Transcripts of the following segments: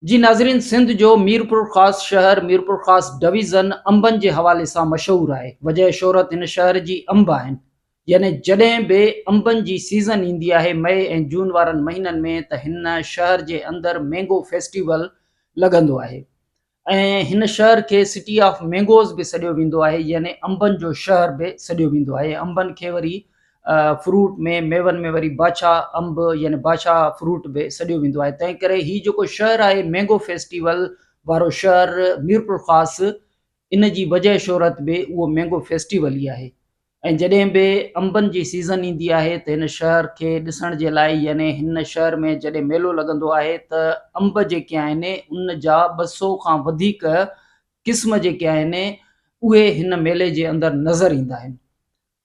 جي ناظرين سنڌ جو ميرپورخاص شهر ميرپورخاص ڊويزن انبن جي حوالي سان مشهور آهي وجهه شهرت هن شهر جي انب آهن يعني جڏهن به انبن جي سيزن ايندي آهي مئي ۽ جون وارن مهينن ۾ ته هن شهر جي اندر مينگو فيسٽيول لڳندو آهي ۽ هن شهر کي سٽي آف مينگوز به سڏيو ويندو آهي يعني انبن جو شهر به سڏيو ويندو آهي انبن کي وري فروٽ ۾ ميون ۾ وري بادشاھ انب يعني بادشاھ فروٽ به سڏيو ويندو آهي تنهن ڪري هي جيڪو شهر آهي مينگو فيسٽيول وارو شهر ميرپورخاص ان جي وجهه شهرت به اهو مينگو فيسٽيول ئي آهي ۽ جڏهن به انبن جي سيزن ايندي آهي ته هن شهر کي ڏسڻ جي لاء يعني هن شهر ۾ جڏهن ميلو لڳندو آهي ته انب جيڪي آهن ان جا ٻه سو کان وڌيڪ قسم جيڪي آهن اهي هن ميلي جي اندر نظر ايندا آهن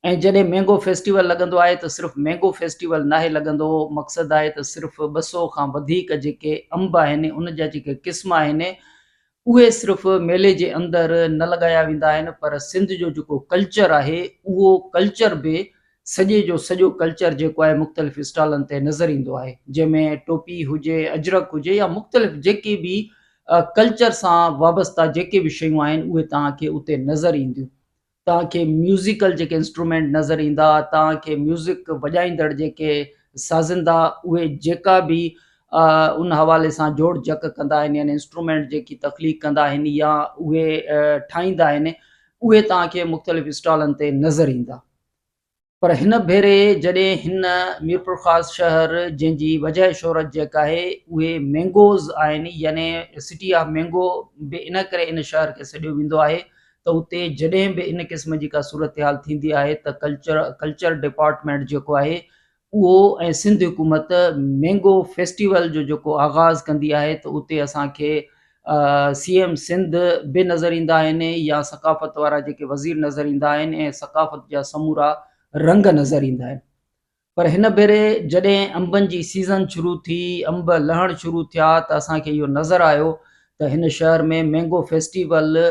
۽ جڏهن مينگو فيسٽيول لڳندو آهي ته صرف مينگو فيسٽيول ناهي لڳندو مقصد آهي ته صرف ٻه سؤ کان وڌيڪ جيڪي انب آهن ان جا جيڪي قسم آهن اهي صرف ميلي جي اندر نه لڳايا ويندا آهن پر سنڌ جو جيڪو ڪلچر آهي اهو ڪلچر به سڄي جو سڄو ڪلچر جيڪو آهي مختلف اسٽالن تي نظر ايندو آهي جنهن ۾ ٽوپي هجي اجرڪ هجي يا مختلف جيڪي به ڪلچر سان وابسته جيڪي به شيون آهن اهي توهان کي اتي نظر اينديون توهان کي ميوزيڪل جيڪي انسٽرومينٽ نظر ايندا توهان کي ميوزڪ وڄائيندڙ جيڪي سازندا اهي جيڪا به ان حوالي سان جوڙ جڪ ڪندا آهن يعني انسٽرومينٽ جيڪي تخليق ڪندا آهن يا اهي ٺاهيندا آهن اهي توهان کي مختلف اسٽالن تي نظر ايندا. پر هن ڀيري جڏهن هن ميرپورخاص شهر جنهن جي وجهه شهرت جيڪ آهي اهي مينگوز آهن يعني سٽي آف مينگو به ان ڪري ان شهر کي سڏيو ويندو آهي ته اتي جڏهن به ان قسم جي ڪا صورتحال ٿيندي آهي ته ڪلچر ڪلچر ڊپارٽمينٽ جيڪو آهي اهو ۽ سنڌ حڪومت مينگو فيسٽيول جو جيڪو آغاز ڪندي آهي ته اتي اسانکي سي ايم سنڌ به نظر ايندا آهن يا ثقافت وارا جيڪي وزير نظر ايندا آهن ۽ ثقافت جا سمورا رنگ نظر ايندا آهن پر هن ڀيري جڏهن انبن جي سيزن شروع ٿي انب لهڻ شروع ٿيا ته اسانکي اهو نظر آيو ته هن شهر ۾ مينگو فيسٽيول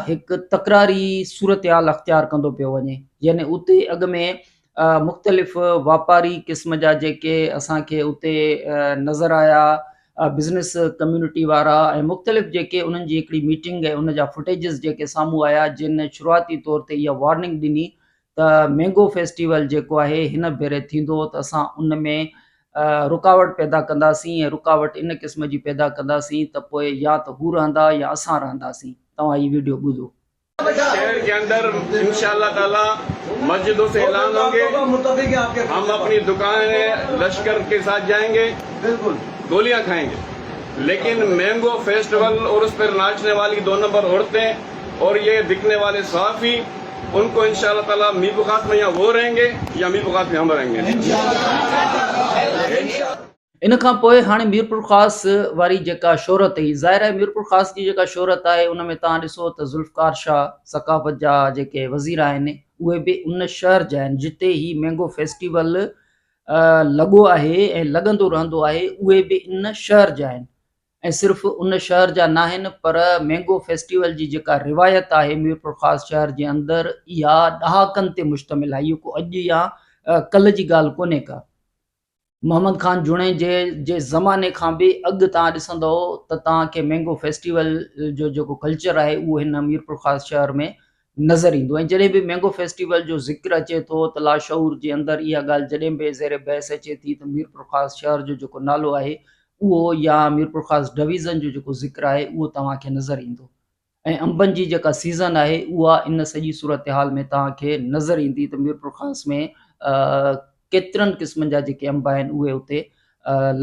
هڪ تڪراري صورتحال اختيار ڪندو پيو وڃي يعني اتي اڳ ۾ مختلف واپاري قسم جا جيڪي اسانکي اتي نظر آيا بزنس ڪميونٽي وارا ۽ مختلف جيڪي انهن جي هڪڙي ميٽنگ ۽ ان جا فوٽيجز جيڪي سامهون آيا جن شروعاتي طور تي اها وارننگ ڏني ته مينگو فيسٽيول جيڪو آهي هن ڀيري ٿيندو ته اسان ان ۾ رڪاوٽ پيدا ڪنداسين ۽ رڪاوٽ ان قسم جي پيدا ڪنداسين ته پوء يا ته هو رهندا يا اسان رهنداسين توهان هي وڊيو ٻڌو. شهر ڪي اندر انشاء الله تعالي مسجدو سي اعلان هونگي هم اپني دڪان هي لشڪر ڪي ساٿ جاينگي گوليان کاينگي ليڪن مينگو فيسٽيول اور اس پر ناچني والي دو نمبر عورتين اور يي بڪني والي صحافي ان ڪو انشاء الله تعالي مي بخاص مي يا وو رهين گي يا مي بخاص مي هم رهين گي انشاء الله. ان کان پوء هاڻي ميرپورخاص واري جيڪا شهرت هئي ظاهر آهي ميرپورخاص جي جيڪا شهرت آهي ان ۾ توهان ڏسو ته ذوالفقار شاهه ثقافت جا جيڪي وزير آهن اهي به ان شهر جا آهن جتي هي مينگو فيسٽيول لڳو آهي ۽ لڳندو رهندو آهي اهي به ان شهر جا آهن ۽ صرف ان شهر جا ناهن پر مينگو فيسٽيول جي جيڪا روايت آهي ميرپورخاص شهر جي اندر اها ڏهاڪن تي مشتمل آهي اهو ڪو اڄ يا ڪلهه جي ڳالهه ڪونهي ڪا محمد خان جوڻيجي جي زماني کان به اڳ تان ڏسندو ته تان کي مينگو فيسٽيول جو جيڪو ڪلچر آهي اهو هن ميرپورخاص شهر ۾ نظر ايندو ۽ جڏهن به مينگو فيسٽيول جو ذڪر اچي ٿو ته لاشعور جي اندر اها ڳالهه جڏهن به زير بحث اچي ٿي ته ميرپورخاص شهر جو جيڪو نالو آهي اهو يا ميرپورخاص ڊويزن جو جيڪو ذڪر آهي اهو توهان کي نظر ايندو ۽ انبن جي جيڪا سيزن آهي اها ان سڄي صورتحال ۾ توهان کي نظر ايندي ته ميرپورخاص ۾ ڪيترن قسمن جا جيڪي انب آهن اهي اتي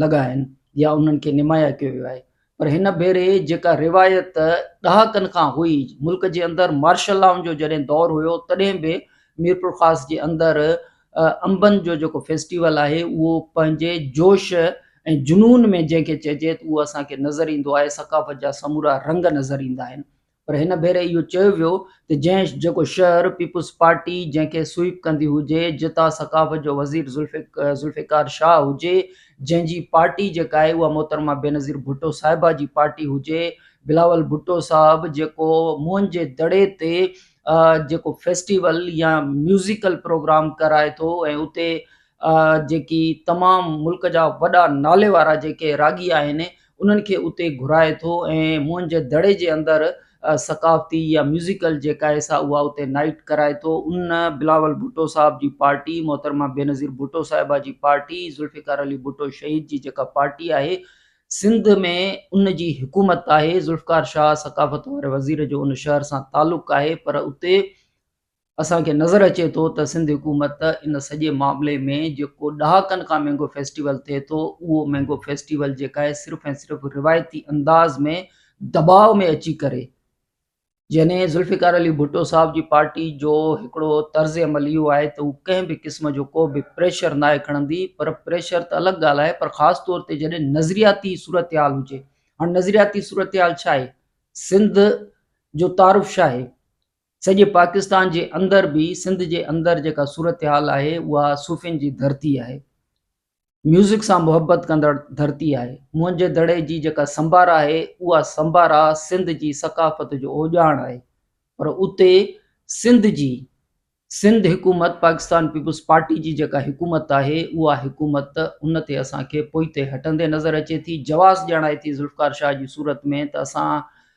لڳا آهن يا انهن کي نمايا ڪيو ويو آهي پر هن ڀيري جيڪا روايت ڏهاڪن کان هئي، ملڪ جي اندر مارشل لاء جو جڏهن دور هيو تڏهن به ميرپورخاص جي اندر انبن جو جيڪو فيسٽيول آهي اهو پنهنجي جوش ۽ جنون ۾ جنهن کي چئجي اهو اسان کي نظر ايندو آهي ثقافت جا سمورا رنگ نظر ايندا آهن پر هن ڀيري اهو چيو ويو ته جنهن جيڪو شهر پيپلز پارٽي جنهن کي سوئيپ ڪندي هجي، جتان ثقافت جو وزير ذوالفقار شاهه هجي، جنهن جي پارٽي جيڪا آهي اها محترمه بينظير ڀٽو صاحبه جي پارٽي هجي، بلاول ڀٽو صاحب جيڪو موهن جي دڙي تي جيڪو فيسٽيول يا ميوزيڪل پروگرام ڪرائي ٿو ۽ اتي جيڪي تمام ملڪ جا وڏا نالي وارا جيڪي راڳي آهن انهن کي اتي گهرائي ٿو ۽ موهن جي دڙي جي اندر ثقافتي يا ميوزيڪل جيڪا ايس آ اها اتي نائيٽ ڪرائي ٿو ان بلاول ڀٽو صاحب جي پارٽي محترمه بينظير ڀٽو صاحبه جي پارٽي ذوالفقار علي ڀٽو شهيد جي جيڪا پارٽي آهي سنڌ ۾ ان جي حڪومت آهي ذوالفقار شاهه ثقافت واري وزير جو ان شهر سان تعلق آهي پر اتي اسان کي نظر اچي ٿو ته سنڌ حڪومت ان سڄي معاملي ۾ جيڪو ڏهاڪن کان مينگو فيسٽيول ٿئي ٿو اهو مينگو فيسٽيول جيڪا آهي صرف ۽ صرف روايتي انداز ۾ دٻاء ۾ اچي ڪري يعني ذوالفقار علي ڀٽو صاحب جي پارٽي جو هڪڙو طرز عمل اهو آهي ته هو ڪنهن به قسم جو ڪو به پريشر ناهي کڻندي پر پريشر ته الڳ ڳالهه آهي پر خاص طور تي جڏهن نظرياتي صورتحال هجي هاڻ نظرياتي صورتحال ڇا آهي سنڌ جو تعارف ڇا آهي سڄي پاڪستان جي اندر به سنڌ جي اندر جيڪا صورتحال آهي اها صوفين جي ڌرتي آهي ميوزڪ سان محبت ڪندڙ ڌرتي آهي منهنجي دڙي جي جيڪا سمبارا آهي اها سمبارا سنڌ جي ثقافت جو اوڄاڻ آهي پر اتي سنڌ جي سنڌ حڪومت پاڪستان پيپلز پارٽي جي جيڪا حڪومت آهي اها حڪومت ان تي اسان کي پوئتي هٽندي نظر اچي ٿي جواز ڄاڻائي ٿي ذوالفقار شاهه جي صورت ۾ ته اسان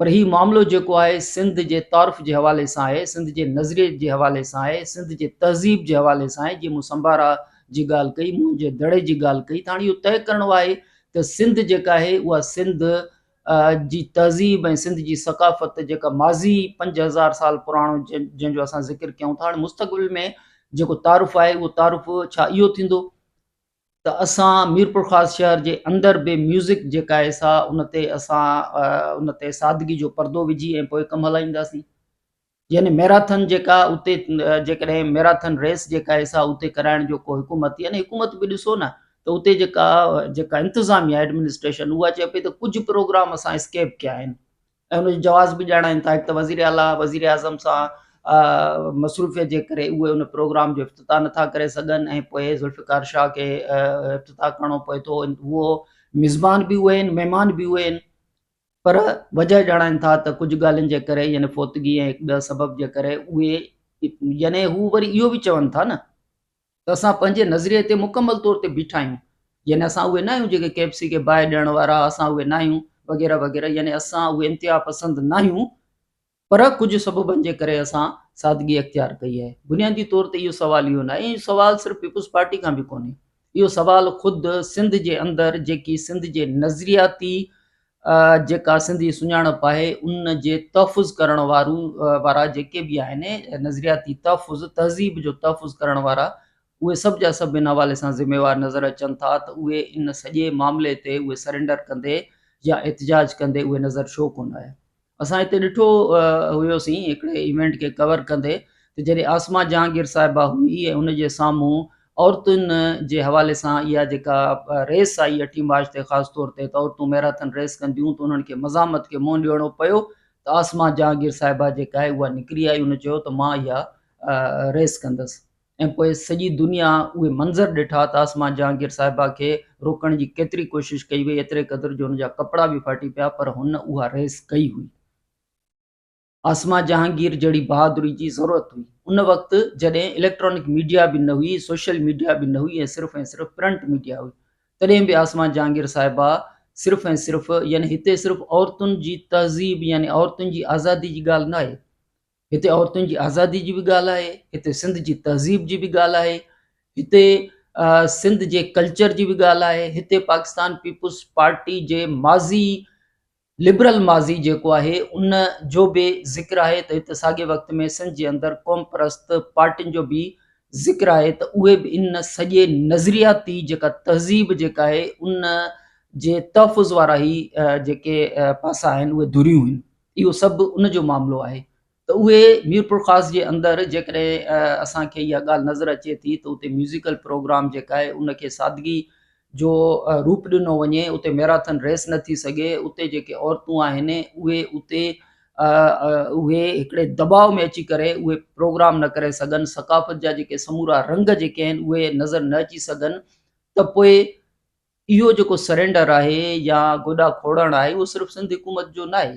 پر هي معاملو جيڪو آهي سنڌ جي تعارف جي حوالي سان آهي، سنڌ جي نظريي جي حوالي سان آهي، سنڌ جي تهذيب جي حوالي سان آهي، جيئن مون سمبارا جي ڳالهه ڪئي، مون جي دڙي جي ڳالهه ڪئي ته هاڻي اهو طئي ڪرڻو آهي ته سنڌ جيڪا آهي اها سنڌ جي تهذيب ۽ سنڌ جي ثقافت جيڪا ماضي پنج هزار سال پراڻو جنهن جو اسان ذڪر ڪيون ٿا هاڻي مستقبل ۾ جيڪو تعارف آهي اهو تعارف ڇا اهو ٿيندو ته اسان ميرپورخاص شهر جي اندر به ميوزڪ جيڪا آهي سا ان تي اسان ان تي سادگي جو پردو وجهي ۽ پوء ڪم هلائينداسين يعني ميراٿن جيڪا اتي جيڪڏهن ميراٿن ريس جيڪا آهي سا اتي ڪرائڻ جو ڪو حڪومت يعني حڪومت به ڏسو نه ته اتي جيڪا جيڪا انتظاميا ايڊمنسٽريشن اها چئي پئي ته ڪجهه پروگرام اسان اسڪيپ ڪيا آهن ۽ ان جو جواز به ڄاڻائين ٿا هڪ ته وزير اعليٰ وزيراعظم سان مصروفيت جي ڪري اهي ان پروگرام جو افتتاح نٿا ڪري سگهن ۽ پوء ذوالفقار شاهه کي افتتاح ڪرڻو پوي ٿو هو مزمان به اهي آهن مهمان به اهي آهن پر وجه ڄاڻائن ٿا ته ڪجهه ڳالهين جي ڪري يعني فوتگي ۽ هڪ ٻئي سبب جي ڪري اهي يعني هو وري اهو به چون ٿا نه ته اسان پنهنجي نظريي تي مڪمل طور تي بيٺا آهيون يعني اسان اهي نه آهيون جيڪي ڪي ايف سي کي باهه ڏيڻ وارا اسان اهي نه آهيون وغيره وغيره يعني اسان اهي انتها پسند نه آهيون پر ڪجهه سببن جي ڪري اسان سادگي اختيار ڪئي آهي بنيادي طور تي اهو سوال اهو نه آهي اهو سوال صرف پيپلز پارٽي کان به ڪونهي اهو سوال خود سنڌ جي اندر جيڪي سنڌ جي نظرياتي جيڪا سنڌي سڃاڻپ آهي ان جي تحفظ ڪرڻ وارون وارا جيڪي به آهن نظرياتي تحفظ تهذيب جو تحفظ ڪرڻ وارا اهي سڀ جا سڀ ان حوالي سان ذميوار نظر اچن ٿا ته اهي ان سڄي معاملي تي اهي سرينڊر ڪندي يا احتجاج ڪندي اهي نظر ڇو ڪونه آيا. اسان اتي ڏٺو هيوسين هڪڙي ايونٽ کي ڪور ڪندي ته جڏهن عاصمه جهانگير صاحبه هئي ۽ ان جي سامهون عورتن جي حوالي سان اها جيڪا ريس آئي اٺين مارچ تي خاص طور تي ته عورتون ميراٿن ريس ڪنديون ته انهن کي مزاحمت کي منهن ڏيڻو پيو ته عاصمه جهانگير صاحبه جيڪا آهي اها نڪري آئي ان چيو ته مان اها ريس ڪندس ۽ پوء سڄي دنيا اهي منظر ڏٺا ته آسما جهانگير صاحبه کي روڪڻ جي ڪيتري ڪوشش ڪئي وئي ايتري قدر جو هن جا ڪپڙا به ڦاٽي پيا پر هن اها ريس ڪئي هئي. آسما جهانگير جهڙي بهادري جي ضرورت هئي ان وقت جڏهن اليڪٽرانڪ ميڊيا به نه هئي سوشل ميڊيا به نه هئي ۽ صرف ۽ صرف پرنٽ ميڊيا هئي تڏهن به آسما جهانگير صاحبه صرف ۽ صرف يعني هتي صرف عورتن جي تهذيب يعني عورتن جي آزادي جي ڳالهه نه آهي هتي عورتن جي آزادي جي به ڳالهه آهي هتي سنڌ جي تهذيب جي به ڳالهه آهي هتي سنڌ جي ڪلچر جي به ڳالهه آهي هتي پاڪستان پيپلز پارٽي جي ماضي لبرل ماضي جيڪو آهي ان جو به ذڪر آهي ته هتي ساڳي وقت ۾ سنڌ جي اندر قوم پرست پارٽين جو به ذڪر آهي ته اهي به ان سڄي نظرياتي جيڪا تهذيب جيڪا آهي ان جي تحفظ وارا هي جيڪي پاسا آهن اهي ڌريون آهن اهو سڀ ان جو معاملو آهي ته اهي ميرپورخاص جي اندر جيڪڏهن اسان کي اها ڳالهه نظر اچي ٿي ته اتي ميوزيڪل پروگرام جيڪا آهي ان کي سادگي جو روپ ڏنو وڃي اتي ميراٿن ريس نه ٿي سگهي اتي جيڪي عورتون آهن اهي اتي اهي هڪڙي دٻاء ۾ اچي ڪري اهي پروگرام نه ڪري سگهن ثقافت جا جيڪي سمورا رنگ جيڪي آهن اهي نظر نه اچي سگهن ته پوء اهو جيڪو سرينڊر آهي يا گوڏا کوڙڻ آهي اهو صرف سنڌ حڪومت جو ناهي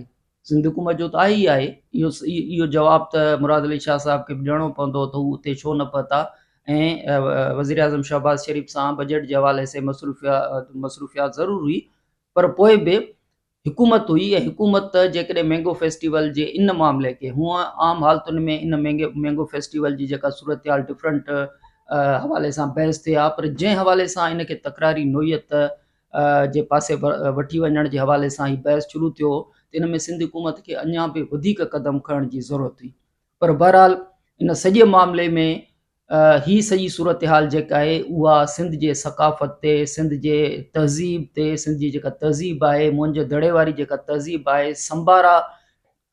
سنڌ حڪومت جو ته آهي ئي آهي اهو اهو جواب ته مراد علي شاهه صاحب کي به ڏيڻو پوندو ته هو اتي ڇو نه پهتا ۽ وزير اعظم شهباز شريف سان بجيٽ جي حوالي سان مصروفيات مصروفيات ضرور هئي پر پوء به حڪومت هئي ۽ حڪومت جيڪڏهن مينگو فيسٽيول جي ان معاملي کي هونء عام حالتن ۾ ان مينگو فيسٽيول جي جيڪا صورتحال ڊفرنٽ حوالي سان بحث ٿئي ها پر جنهن حوالي سان ان کي تڪراري نوعيت جي پاسي وٺي وڃڻ جي حوالي سان هي بحث شروع ٿيو هو ته ان ۾ سنڌ حڪومت کي اڃان به وڌيڪ قدم کڻڻ جي ضرورت هئي پر بهرحال ان سڄي معاملي ۾ هي سڄي صورتحال جيڪا آهي اها سنڌ جي ثقافت تي سنڌ جي تهذيب تي سنڌ جي جيڪا تهذيب آهي مونجهه دڙي واري جيڪا تهذيب آهي سمبارا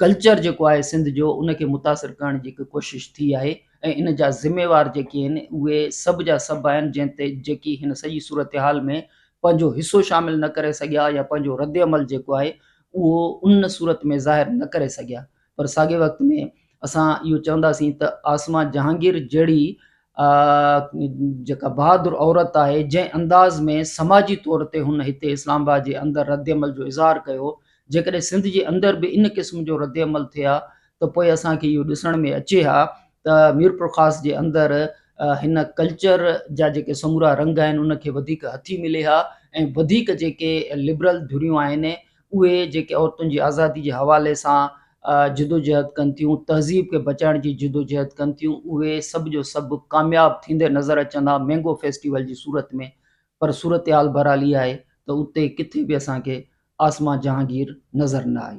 ڪلچر جيڪو آهي سنڌ جو ان کي متاثر ڪرڻ جي هڪ ڪوشش ٿي آهي ۽ ان جا ذميوار جيڪي آهن اهي سڀ جا سڀ آهن جنهن تي جيڪي هن سڄي صورتحال ۾ پنهنجو حصو شامل نه ڪري سگهيا يا پنهنجو رد عمل جيڪو آهي اهو ان صورت ۾ ظاهر نه ڪري سگهيا پر ساڳئي وقت ۾ اسان اهو چونداسين ته عاصمه جهانگير جهڙي جيڪا بهادر عورت آهي جنهن انداز ۾ سماجي طور تي هن هتي اسلام آباد جي اندر ردعمل جو اظهار ڪيو جيڪڏهن سنڌ جي اندر به ان قسم جو ردعمل ٿئي ها ته پوء اسان کي اهو ڏسڻ ۾ اچي ها ته ميرپورخاص جي اندر هن ڪلچر جا جيڪي سمورا رنگ آهن ان کي وڌيڪ هٿي ملي ها ۽ وڌيڪ جيڪي لبرل ڌريون آهن اهي جيڪي عورتن جي آزادي جي حوالي سان جدوجهد ڪن ٿيون، تهذيب کي بچائڻ جي جدوجهد ڪن ٿيون، اهي سڀ جو سڀ ڪامياب ٿيندي نظر اچن ها مينگو فيسٽيول جي صورت ۾ پر صورتحال بهرحال اها آهي ته اتي ڪٿي به اسان کي عاصمه جهانگير نظر نه آئي.